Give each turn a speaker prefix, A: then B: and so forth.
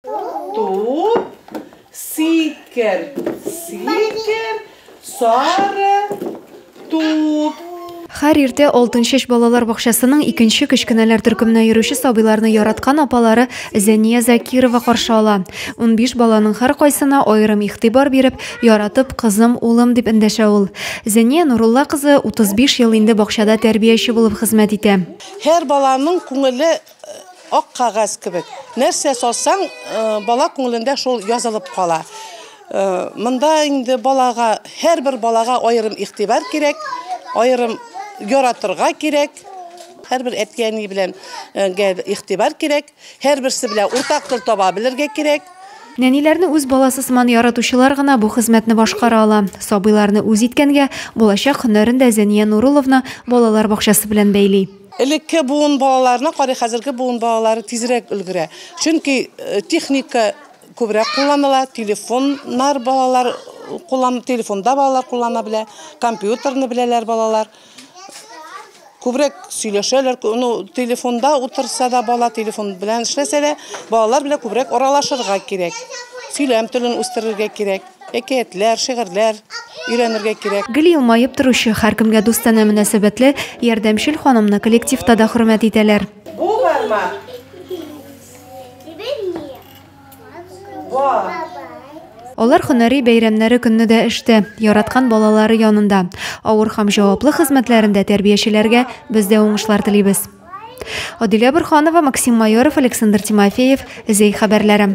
A: Туп, сикер, сикер, сары туп. Хәр иртә Алтынчәч балалар бакчасының икенче кечкенәләр төркеменә йөрүче сабыйларны яраткан апалары Зәния Закирова каршы ала. 15 баланың һәркайсына аерым игътибар биреп, яратып, кызым, улым дип эндәшә ул. Зәния Нурулла кызы 35 ел инде бакчада тәрбияче булып хезмәт итә. Һәр баланың күңеле Ак кагаз кебек. Нәрсә салсаң, бала күңелендә шул язылып кала. Монда инде балага, һәрбер балага аерым игътибар кирәк, аерым яратырга кирәк. Һәрбер әти-әни белән игътибар кирәк, һәрберсе белән уртак тел таба белергә кирәк. Нәниләрне үз баласы сыман яратучылар гына бу хезмәтне башкара ала. Сабыйларны үз иткәнгә, булачак һөнәрен дә Зәния Нурулловна балалар бакчасы белән бәйли. Элекке буын балаларына карый хәзерге буын балалары тизрәк өлгерә. Чөнки техника күбрәк кулланыла, телефоннар балалар куллан, телефонда балалар куллана белә, компьютерны беләләр балалар. Күбрәк сөйләшәләр, ну, телефонда утырса да бала, телефон белән эшләсә дә, балалар белән күбрәк аралашырга кирәк. Сөйләм телен үстерергә кирәк. Әкиятләр, шигырьләр өйрәнергә кирәк. Гел елмаеп торучы, һәркемгә дустанә мөнәсәбәтле, ярдәмчел ханымны коллективта да хөрмәт итәләр. Бу бармак Ва. Алар һөнәри бәйрәмнәре көнне дә эштә, яраткан балалары янында. Авыр һәм җаваплы хезмәтләрендә тәрбиячеләргә без дә уңышлар телибез. Адилә Борханова, Максим Майоров, Александр Тимофеев, Зәй хәбәрләре.